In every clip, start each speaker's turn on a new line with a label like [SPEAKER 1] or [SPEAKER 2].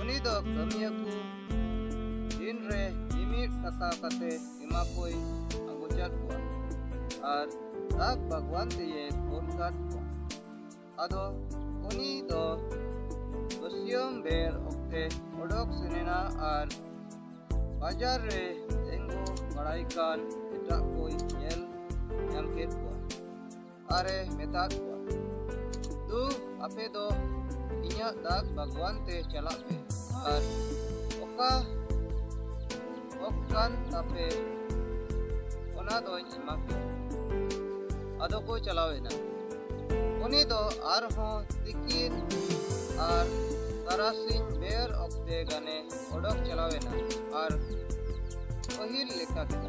[SPEAKER 1] ᱩᱱᱤ ᱫᱚ ᱠᱟᱹᱢᱤᱭᱟᱹ ᱠᱚ ᱫᱤᱱ ᱨᱮ ᱢᱤᱢᱤᱫ ᱴᱟᱠᱟ ᱠᱟᱛᱮ ᱮᱢᱟ ᱠᱚᱭ ᱟᱹᱜᱩᱪᱟᱫ ᱠᱚᱣᱟ ᱟᱨ ᱫᱟᱜ ᱵᱟᱜᱽᱣᱟᱱ ᱛᱮᱭᱮ ᱠᱳᱞ ᱠᱟᱫ ᱠᱚᱣᱟ ᱟᱫᱚ ᱩᱱᱤ ᱫᱚ ᱵᱟᱹᱥᱭᱟᱹᱢ ᱵᱮᱨ ᱚᱠᱛᱮ ᱚᱰᱚᱠ ᱥᱮᱱᱮᱱᱟ ᱟᱨ ᱵᱟᱡᱟᱨ ᱨᱮ ᱛᱮᱸᱜᱚ ᱵᱟᱲᱟᱭ ᱠᱟᱱ ᱮᱴᱟᱜ ᱠᱚᱭ ᱧᱮᱞ ᱧᱟᱢ ᱠᱮᱫ ᱠᱚᱣᱟ ᱟᱨᱮ ᱢᱮᱛᱟᱫ ᱠᱚᱣᱟ ᱫᱩ ᱟᱯᱮ ᱫᱚ ᱤᱧᱟᱹᱜ ᱫᱟᱜ ᱵᱟᱜᱽᱣᱟᱱ ᱛᱮ ᱪᱟᱞᱟᱜ ᱯᱮ ᱟᱨ ᱚᱠᱟ ᱚᱠ ᱠᱟᱱ ᱛᱟᱯᱮ ᱚᱱᱟ ᱫᱚᱧ ᱮᱢᱟ ᱯᱮ ᱟᱫᱚ ᱠᱚ ᱪᱟᱞᱟᱣᱮᱱᱟ ᱩᱱᱤ ᱫᱚ ᱟᱨᱦᱚᱸ ᱛᱤᱠᱤᱱ ᱟᱨ ᱛᱟᱨᱟᱥᱤᱧ ᱵᱮᱨ ᱚᱠᱛᱮ ᱜᱟᱱᱮ ᱚᱰᱚᱠ ᱪᱟᱞᱟᱣᱮᱱᱟ ᱟᱨ ᱯᱟᱹᱦᱤᱞ ᱞᱮᱠᱟ ᱠᱮᱫᱟ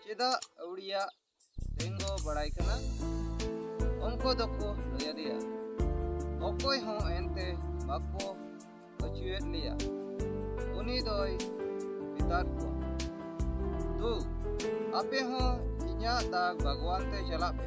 [SPEAKER 1] ᱪᱮᱫᱟᱜ ᱟᱹᱣᱲᱤᱭᱟᱜ ᱛᱮᱸᱜᱚ ᱵᱟᱲᱟᱭ ᱠᱟᱱᱟ ᱩᱱᱠᱩ ᱫᱚᱠᱚ ᱞᱟᱹᱭ ᱟᱫᱮᱭᱟ ᱚᱠᱚᱭ ᱦᱚᱸ ᱮᱱᱛᱮ ᱵᱟᱠᱚ ᱟᱹᱪᱩᱭᱮᱫ ᱞᱮᱭᱟ ᱩᱱᱤ ᱫᱚᱭ ᱢᱮᱛᱟᱫ ᱠᱚᱣᱟ ᱫᱩ ᱟᱯᱮ ᱦᱚᱸ ᱤᱧᱟᱹᱜ ᱫᱟᱜ ᱵᱟᱜᱽᱣᱟᱱ ᱛᱮ ᱪᱟᱞᱟᱜ ᱯᱮ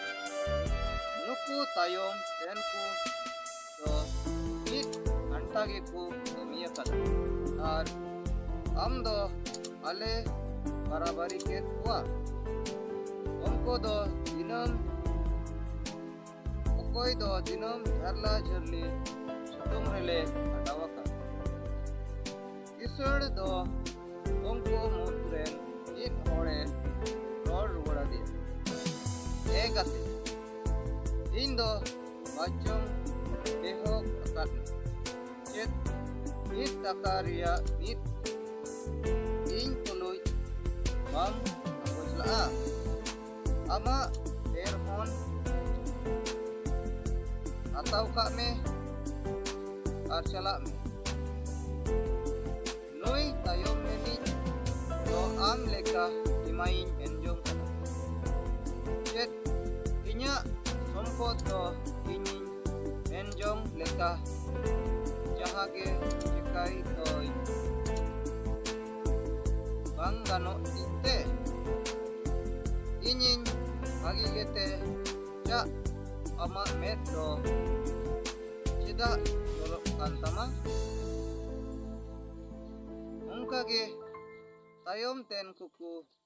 [SPEAKER 1] ᱱᱩᱠᱩ ᱛᱟᱭᱚᱢ ᱨᱮᱱ ᱠᱚ ᱫᱚ ᱢᱤᱫ ᱜᱷᱟᱱᱴᱟ ᱜᱮᱠᱚ ᱠᱟᱹᱢᱤ ᱟᱠᱟᱫᱟ ᱟᱨ ᱟᱢ ᱫᱚ ᱟᱞᱮ ᱵᱟᱨᱟᱵᱟᱨᱤ ᱠᱮᱫ ᱠᱚᱣᱟ ᱩᱱᱠᱩ ᱫᱚ ᱫᱤᱱᱟᱹᱢ ᱚᱠᱚᱭ ᱫᱚ ᱫᱤᱱᱟᱹᱢ ᱡᱷᱟᱨᱞᱟ ᱡᱷᱟᱹᱨᱞᱤ ᱥᱤᱛᱩᱝ ᱨᱮᱞᱮ ᱠᱷᱟᱴᱟᱣ ᱟᱠᱟᱫ ᱠᱤᱥᱟᱹᱬ ᱫᱚ ᱩᱱᱠᱩ ᱢᱩᱫᱽ ᱨᱮᱱ ᱢᱤᱫ ᱦᱚᱲᱮ ᱨᱚᱲ ᱨᱩᱣᱟᱹᱲ ᱟᱫᱮᱭᱟ ᱮ ᱜᱟᱛᱮ ᱤᱧ ᱫᱚ ᱵᱟᱪᱚᱝ ᱮᱦᱚᱵ ᱟᱠᱟᱫ ᱪᱮᱫ ᱢᱤᱫ ᱴᱟᱠᱟ ᱨᱮᱭᱟᱜ ᱢᱤᱫ ᱤᱧ ᱛᱩᱞᱩᱡ ᱵᱟᱢ ᱵᱚᱡᱽᱞᱟᱜᱼᱟ ᱟᱢᱟᱜ ᱮᱨ ᱦᱚᱸ ᱦᱟᱛᱟᱣ ᱠᱟᱜ ᱢᱮ ᱟᱨ ᱪᱟᱞᱟᱜ ᱢᱮ ᱱᱩᱭ ᱛᱟᱭᱚᱢ ᱨᱤᱱᱤᱡ ᱫᱚ ᱟᱢ ᱞᱮᱠᱟ ᱮᱢᱟᱭᱤᱧ ᱢᱮᱱ ᱡᱚᱝ ᱠᱟᱱᱟ ᱪᱮᱫ ᱤᱧᱟᱹᱜ ᱥᱚᱢᱯᱚᱫ ᱫᱚ ᱤᱧᱤᱧ ᱢᱮᱱ ᱡᱚᱝ ᱞᱮᱠᱟ ᱡᱟᱦᱟᱸ ᱜᱮ ᱪᱮᱠᱟᱭ ᱫᱚᱭ ᱵᱟᱝ ᱜᱟᱱᱚᱜ ᱛᱤᱧ ᱛᱮ ᱤᱧᱤᱧ ᱵᱷᱟᱹᱜᱤ ᱜᱮᱛᱮ ᱪᱟᱜ ᱟᱢᱟᱜ ᱢᱮᱫ ᱫᱚ ᱪᱮᱫᱟᱜ ᱡᱚᱞᱚᱜ ᱠᱟᱱ ᱛᱟᱢᱟ ᱚᱱᱠᱟᱜᱮ ᱛᱟᱭᱚᱢ ᱛᱮᱱ ᱠᱚᱠᱚ